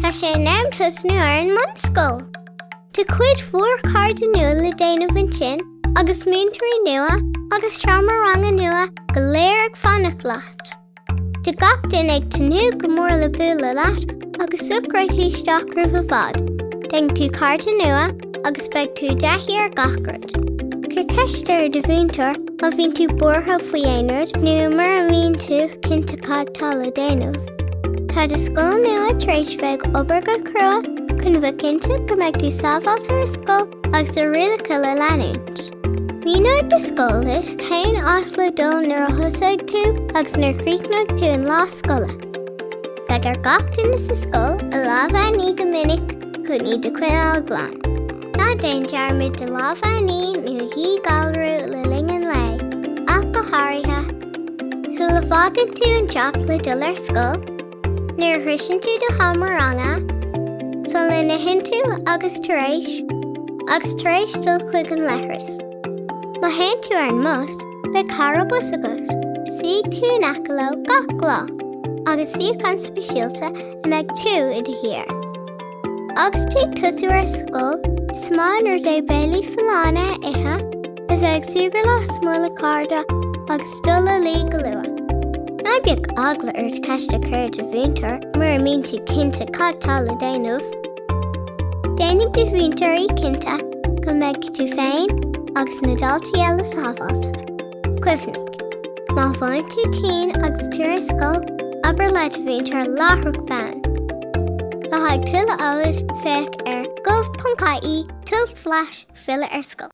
Tá sé in am tosnú ar an mbunscoil. Tá cuid mhór cairde nua le déanamh ansin agus múinteoirí nua agus seomra ranga nua go léir ag fanacht leat. Tá gach duine ag tnúth go mór le bualadh leat agus socróidh tú isteach roimh i bhfad. Déanfaidh tú cairde nua? agus beidh tú i dtaithí ar gach rud. Cuir ceist ar do mhúinteoir má bhíonn tú buartha faoi aon rud nó mura mbíonn tú cinnte cad tá le déanamh. Tá do scoil nua tar éis bheith ag obair go crua chun bheith cinnte go mbeidh tú sábháilte ar scoil agus tá rialacha le leanúint. Míneoidh do scoil leat cén áit le dul nuair a thosóidh tú agus nuair a chríochnóidh tú an lá scoile. Beidh ar gach duine sa scoil a lámha a ní go minic chun iad a choinneáil glan. Ná déan dearmad do lámha a ní nó a dhíghalrú le linn an lae, ach go háirithe. Sula bhfágann tú an teach le dul ar scoil, nuair a shroicheann tú do sheomra ranga, sula n-itheann tú agus tar éis, agus tar éis dul chuig an leithreas. Má théann tú ar an mbus, Beidh cara bus agat, suífidh tú in aice leo gach lá, agus suíochán speisialta a mbeidh tú i do shuí air. Agus tú ag tosnú ar scoil, is maith an rud é béilí folláine a ithe, a bheith ag súgradh lasmuigh le cairde agus dul a luí go luath. Ná bíodh eagla ort ceist a chur ar do mhúinteoir mura mbíonn tú cinnte cad tá le déanamh. Déanfaidh do mhúinteoirí cinnte go mbeidh tú féin agus na daltaí eile sábháilte. Cuimhnigh, má bhíonn tú tinn agus tú ar scoil, abair le do mhúinteoir láithreach bonn. Le haghaidh tuilleadh eolais, féach ar gov.ie tulslais filleadh ar scoil.